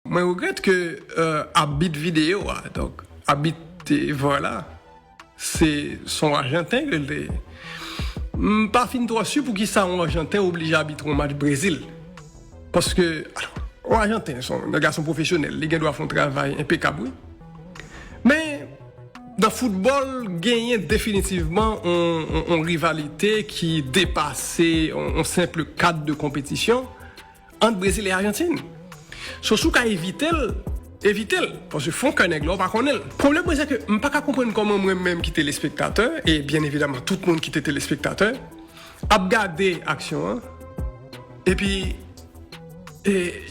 Mwen regrèt ke abit videyo a, donk abit var la, se son ajanten ke l te ye. M pa fin twò si poukisa yon ajanten oblije abitre yon match Brezil. Paske, yon ajanten se yon gason pwofesyonèl, li gen dwa fè yon travay enpekab wi. Men, nan foutbòl, genyen definitivman yon rivalite ki depase yon senpl kad de konpetisyon. Ant Brezil e Ajantin. So si w ka evite l, evite l. Paske fon kè nèg la w pa konnen l. Pwoblèm mwen sèke m pa ka konprann kòman mwen menm ki telespektatè, e byen evidaman tout moun ki te telespektatè, ap gade aksyon an, epi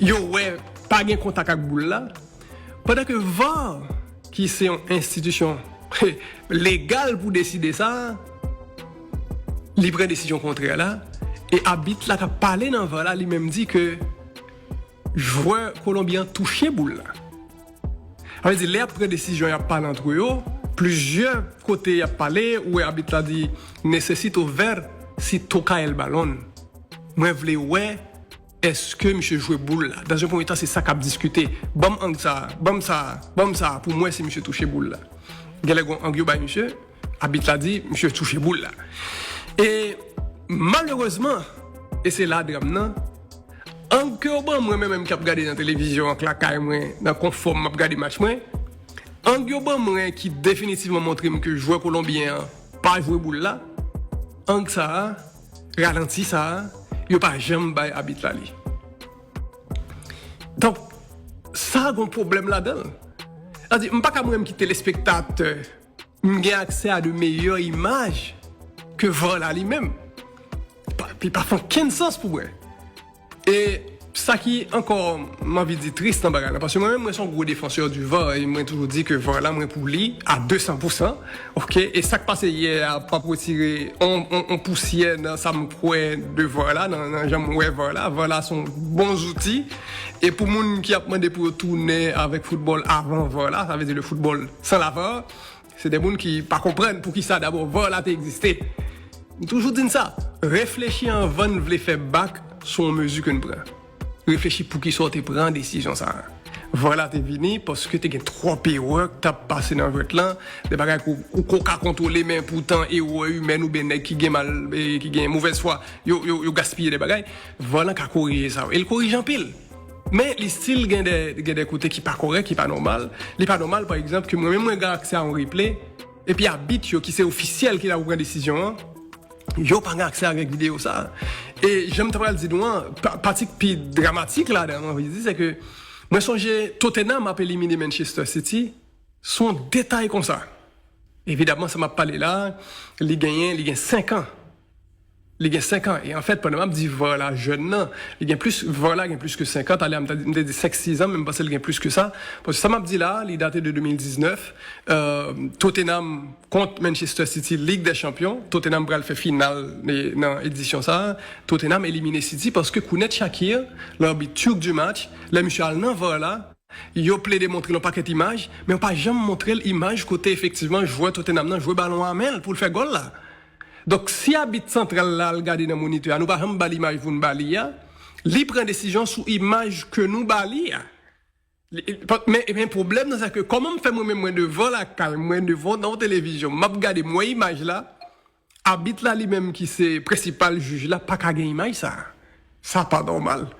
yo wè pa gen kontak ak boul la, Pandan ke var ki se yon enstitisyon legal pou deside sa, li pran desizyon kontrè la, e abit la kap pale nan var la li menm di ke jwè Kolonbi an touche boul la. Sa vle di lè yap pran desizyon yap pale antre yo, plizyè kote yap pale ou wè abit la di, Necesito ver si toca el balon. Mwen vle wè. Eske misye jwe boul la? Dans un premier temps se sa kap diskite. Banm ang sa a, banm sa a, banm sa a pou m wè si misye touche boul la. Genlè gon ang yo bay misye, abit la di misye touche boul la. E malerezman, e se la dram nan, ang ke yo ban mwen mwen menm kap gade nan televizyon ak lakay mwen nan konfò m map gade match mwen, ang yo ban mwen ki definitivman montre m ke jwè kolonbyen an pa jwe boul la, ang sa a. Ralanti sa a, yo pa janm bay abit la li. Donk, sa a gen yon pwoblèm ladan l. Sa vle di, m pa ka mwenm ki telespektatè, m gen aksè a de meyè imaj ke var la li menm. Li pa fè okenn sans pou mwen. E sa ki ankò m anvi di tris nan bagay la paske mwen menm mwen son gwo defansè di var e mwen toujou di ke var la mwen pou li a 200 pousan ok e sak pase yè a pap retire yon pousyè nan sa m kwè de var la nan jan m wè var la var la son bon zouti e pou moun ki ap mande pou yo tounen avèk foutbòl avan var la sa vle di le foutbòl san la var. Se de moun ki pa konprann poukisa dabò var la te egziste. M toujou di n sa, reflechi anvan n vle fè bak sou yon mezi ke n pran. Reflechi poukisa w te pran desizyon sa a. Var la te vini paske te gen twòp erè k t ap pase nan jwèt lan, de bagay ke w ko ka kontwole men poutan erè imèn oubyen nèg ki gen mal, ki gen movèz fwa yo gaspiye de bagay. Var lan ka korije sa yo e l korije anpil. Men li stil gen de gen de kote ki pa korèk, ki pa nòmal. Li pa nòmal pa egzanp ke mwen menm mwen gen aksè a yon replay epi abit yo ki se ofisyèl ki la pou pran desizyon an, yo pa gen aksè avèk videyo sa a. E jan m ta pral di nou an, pa pati k pi dramatik ladan an, m anvi di, se ke mwen sonje Tottenham ap elimine Manchester City sou yon detay konsa. Evidamman sa m ap pale la a, li genyen, li gen 5 an. Li gen 5 an e anfèt pandan map di var la jèn nan li gen plis var la gen plis ke 5 an talè a m te di 5 6 an men m panse li gen plis ke sa paske sa map di la li date de 2019 Tottenham kont Manchester City Ligue des Champions Tottenham pral fè final nan edisyon sa Tottenham elimine City paske Kounet Shaqir larbit turc du match lè misye al nan var la yo plede montre l yon pakèt imaj men yo pa janm montre l imaj kote efektivman jwè Tottenham nan jwe balon a men l pou l fè gòl la. Donk, si abit santral la al gade nan monitè a, nou pa janm ba l imaj pou n ba li a, li pran desizyon sou imaj ke nou ba li a. Men pwoblèm nan se ke kòman m fè mwen menm mwen devan lakay m, mwen devan nan yon televizyon, m ap gade, m wè imaj la, abit la li menm ki se prensipal jij la pa ka gen imaj sa a. Sa pa nòmal.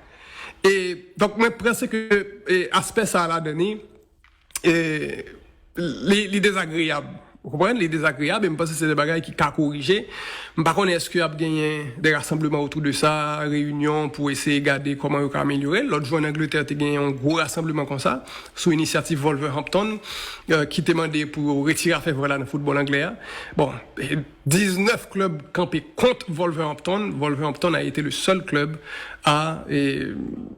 E, donk mwen panse ke aspè sa a ladan li. Li dezagreyab. Ou konprann? Li dezagreyab e m panse se de bagay ki ka korije. M pa konnen èske ap genyen de rasanbleman otou de sa, reyinyon pou eseye gade kòman yo ka amelyore l. Lòt jou ann Angletè te genyen yon gwo rasanbleman konsa sou inisyativ Wolverhampton ki te mande pou yo retire afè vòl la nan foutbòl anglè a. Bon. 19 klub kanpe kont Wolverhampton, Wolverhampton a ete le sèl klub a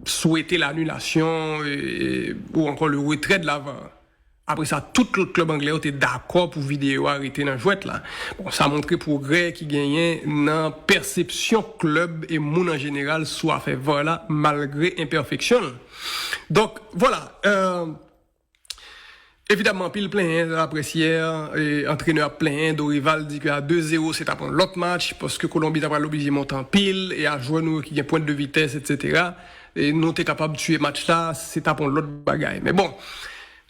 swete lanulasyon ou ankò le retrè de lavan. Apre sa tout lòt klub anglè yo te dakò pou videyo a rete nan jwèt la. Bon sa montre pwogrè ki genyen nan pèsepsyon klub e moun an jeneral sou afè var la malgre enpèfeksyon l. Donk vwala. Evidamman anpil plenyen laprès yè, antrenè ap plenyen, Dorival di ke a 2 zero se tap yon lòt match paske Kolonbi ta pral oblije monte anpil e a jwè nou yo ki gen pwent de vitès etsetera nou te kapab tiye match la se tap yon lòt bagay men bon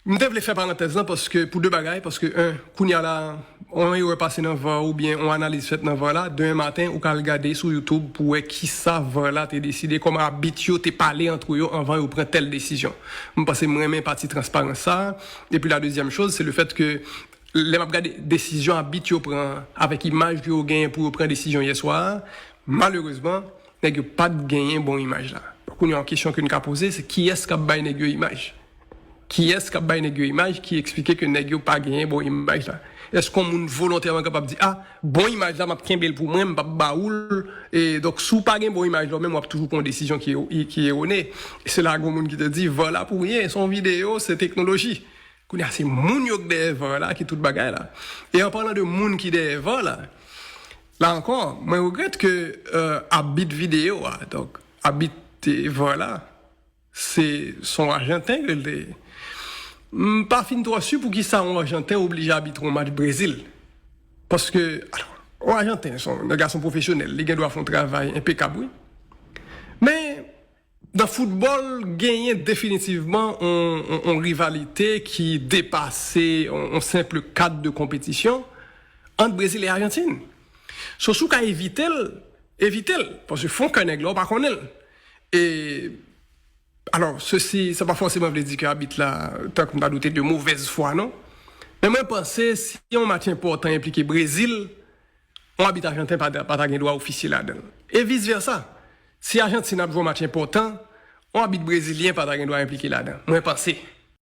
m te vle fè parantèz lan paske pou 2 bagay paske 1 kounya la On erè pase nan var oubyen on analiz fèt nan var la, demen maten ou ka al gade sou youtube pou wè kisa var la te deside, kòman abit yo te pale antre yo anvan yo pran tèl desizyon. M panse m renmen pati transparans sa a. Epi la dezyèm choz se le fèt ke lè m ap gade desizyon abit yo pran an avèk imaj ke yo genyen pou yo pran desizyon yè swa a, malerezman nèg yo pa t genyen bon imaj la. Kounye a on kesyon ke n ka poze se kiyès k ap bay nèg yo imaj? Kiyès kap bay nèg yo imaj ki eksplike ke nèg yo pa genyen bon imaj la? Èske yon moun volontèman kapab di a, bon imaj la map kenbel pou mwen, mpap ba oul, e donk si w pa gen bon imaj la ou menm wap toujou pran yon desizyon ki erone. Se la gen yon moun ki te di var la pou ryen, se yon videyo, se teknoloji. Kounye a se moun yo k dèyè var la ki tout bagay la. E an palan de moun ki dèyè var la, la ankò mwen regrèt ke abit videyo a, donk abit var la, Se son Arjanten k rele. M pa fin twò si poukisa on Arjanten oblije abitre on match Brezil. Paske, alò, on Arjanten s on gason pwofesyonèl, li gen dwa fè on travay enpekab wi. Men, nan foutbòl, genyen definitivman on rivalite ki depase on senpl kad de konpetisyon ant Brezil e Ajantin. So, si w ka evite l, evite l. Paske fon kè nèg la, ou pa konnen l. E, alò, sesi, sa pa fòseman vle di ke abit la, tank m ta doute, de movèz fwa non. Men mwen panse si yon match enpòtan enplike Brezil, yon abit ajanten pa ta gen dwa ofisye ladan l. E vis vèsa, si Ajantin ap jwe yon match enpòtan, yon abit brezilyen pa ta gen dwa enplike ladan. Mwen panse.